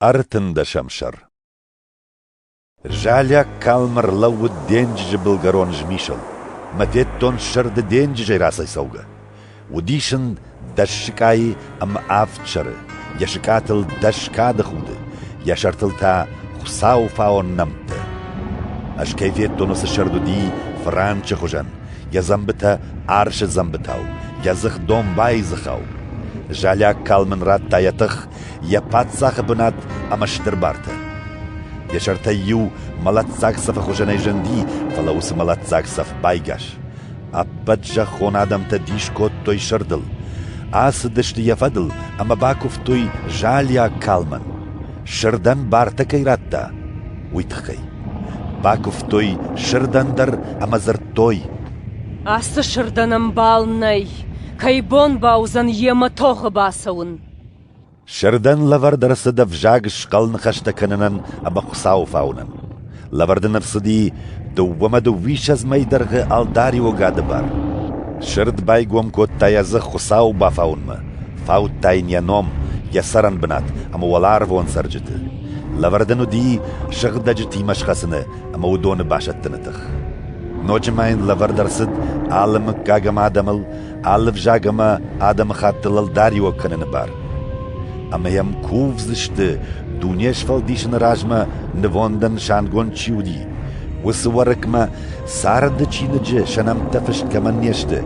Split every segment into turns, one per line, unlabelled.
Ӕртындӕсӕм сӕр Залиаг калм ӕрлӕууыд денджызы былгӕрон змисыл. Мӕ федтон сырды денджызӕй рацӕйцӕугӕ. Уыдис ын дӕс сыкъайы ӕмӕ авд сӕры, йӕ сыкъатыл дӕс кады худы, йӕ сӕртыл та Хуыцауы фаон нӕмттӕ. Ӕз кӕй федтон уыцы сырд уыди франчы хуызӕн, йӕ дзӕмбытӕ арсы дзӕмбытау, йӕ дзых домбайы дзыхау. Залиаг калм ын радта йӕ тых йӕ паддзахы бынат ӕмӕ стыр бартӕ. Йӕ сӕртӕй иу мӕлӕтдзаг цӕфы хуызӕнӕй зынди, фӕлӕ уыцы мӕлӕтдзаг цӕф байгас. Ӕппӕт зӕххон адӕмтӕ дис кодтой сырдыл, ацыдысты йӕ фӕдыл ӕмӕ бакуывтой залиаг калмӕн. Сырдӕн бартӕ кӕй радта, уый тыххӕй. Бакуывтой сырдӕн дӕр ӕмӕ дзырдтой: «Ацы
сырдӕн ӕмбал нӕй, кӕй бон бауыдзӕн йемӕ тохы бацӕуын?» Сырдӕн
лӕвӕрд ӕрцыд ӕвзаг схъӕл ныхӕстӕ кӕнынӕн ӕмӕ Хуыцауы фауынӕн. Лӕвӕрд ын ӕрцыди дыууӕмӕ дыууиссӕдз мӕй дӕргъы ӕлдариуы гӕды бар. Сырд байгом кодта йӕ дзых Хуыцауы бафауынмӕ, фаудта йын йӕ ном, йӕ цӕрӕн бынат ӕмӕ уӕларвон цӕрджыты. Лӕвӕрд ын уыди сыгъдӕджытимӕ схӕцыны ӕмӕ уыдоны басӕттыны тых. Ноджы ма йын лӕвӕрд ӕрцыд алы мыггаг ӕмӕ адӕмыл алы взаг ӕмӕ адӕмыхатты лӕлдариуӕг кӕныны бар. Ӕмӕ йӕм кувдзысты, дуне сфӕлдисыны размӕ нывондӕн нысангонд чи уыди, уыцы Уӕрыкмӕ царды чиныджы сӕ нӕмттӕ фыст кӕмӕн не сты,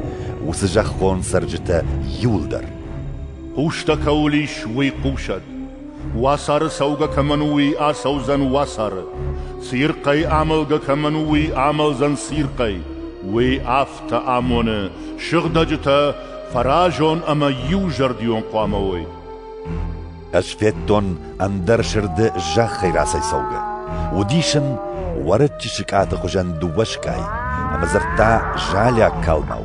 уыцы зӕххон цӕрджытӕ иуылдӕр. Хъустӕ
кӕуыл ис, уый хъусӕд. Уацары цӕугӕ кӕмӕн у, уый ацӕудзӕн уацары. Цирхъӕй амӕлгӕ кӕмӕн у, уый амӕлдзӕн цирхъӕй. Уый аф тӕ амоны, сыгъдӕджытӕ фӕразон ӕмӕ иузӕрдион хъуамӕ уой. Ӕз федтон
ӕндӕр сырды зӕххӕй рацӕйцӕугӕ. Уыдис ын уӕрыччы сыкъаты хуызӕн дыууӕ скъай, ӕмӕ дзырдта залиаг калмау.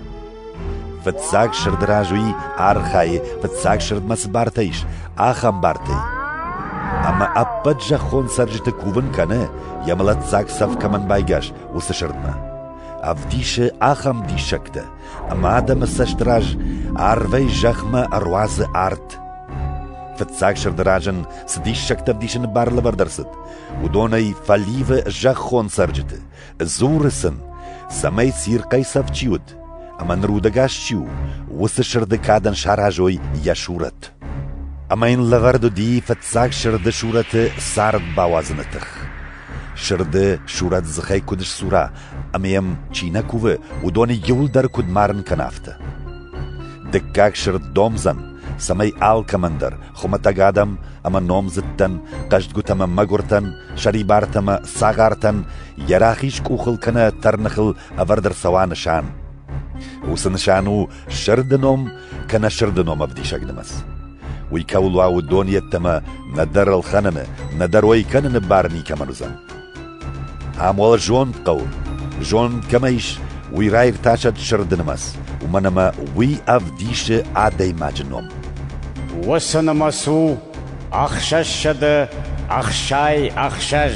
Фыццаг сырды раз уый архайы, фыццаг сырдмӕ цы бартӕ ис, ахӕм бартӕй. Ӕмӕ ӕппӕт зӕххон цӕрджыты кувын кӕны, йӕ мӕлӕтдзаг цӕф кӕмӕн байгас, уыцы сырдмӕ. Ӕвдисы ахӕм диссӕгтӕ, ӕмӕ адӕмы цӕст раз арвӕй зӕхмӕ ӕруадзы арт. Фыццаг сырды раз ын цы диссӕгтӕ ӕвдисыны бар лӕвӕрд ӕрцыд, уыдонӕй фӕливы зӕххон цӕрджыты, дзуры сын, цӕмӕй цирхъӕй цӕф чи уыд ӕмӕ ныр удӕгас чи у, уыцы сырды кадӕн саразой йӕ сурӕт. Ӕмӕ йын лӕвӕрд уыди фыццаг сырды сурӕты цард бауадзыны тых. Сырды сурӕт дзыхӕй куыд ссура ӕмӕ йӕм чи нӕ кувы, уыдоны иуылдӕр куыд марын кӕна, афтӕ. Дыккаг сырд домдзӕн, цӕмӕй алкӕмӕндӕр, хуымӕтӕг адӕм ӕмӕ номдзыдтӕн, хъӕздгуытӕ ӕмӕ мӕгуыртӕн, сӕрибартӕ ӕмӕ цагъартӕн йӕ рахиз къухыл кӕнӕ тӕрныхыл ӕвӕрд ӕрцӕуа нысан. Уыцы нысан у сырды ном кӕнӕ сырды ном ӕвдисӕг нымӕц. Уый кӕуыл уа, уыдон йеддӕмӕ нӕдӕр ӕлхӕныны, нӕдӕр уӕй кӕныны бар никӕмӕн уыдзӕн. Ам уал зонд хъӕуы. Зонд кӕмӕ ис, уый раиртасӕд сырды нымӕц, уымӕн ӕмӕ уый ӕвдисы адӕймаджы ном. Уыцы
нымӕц у ӕхсӕзсӕдӕ ӕхсай ӕхсӕз.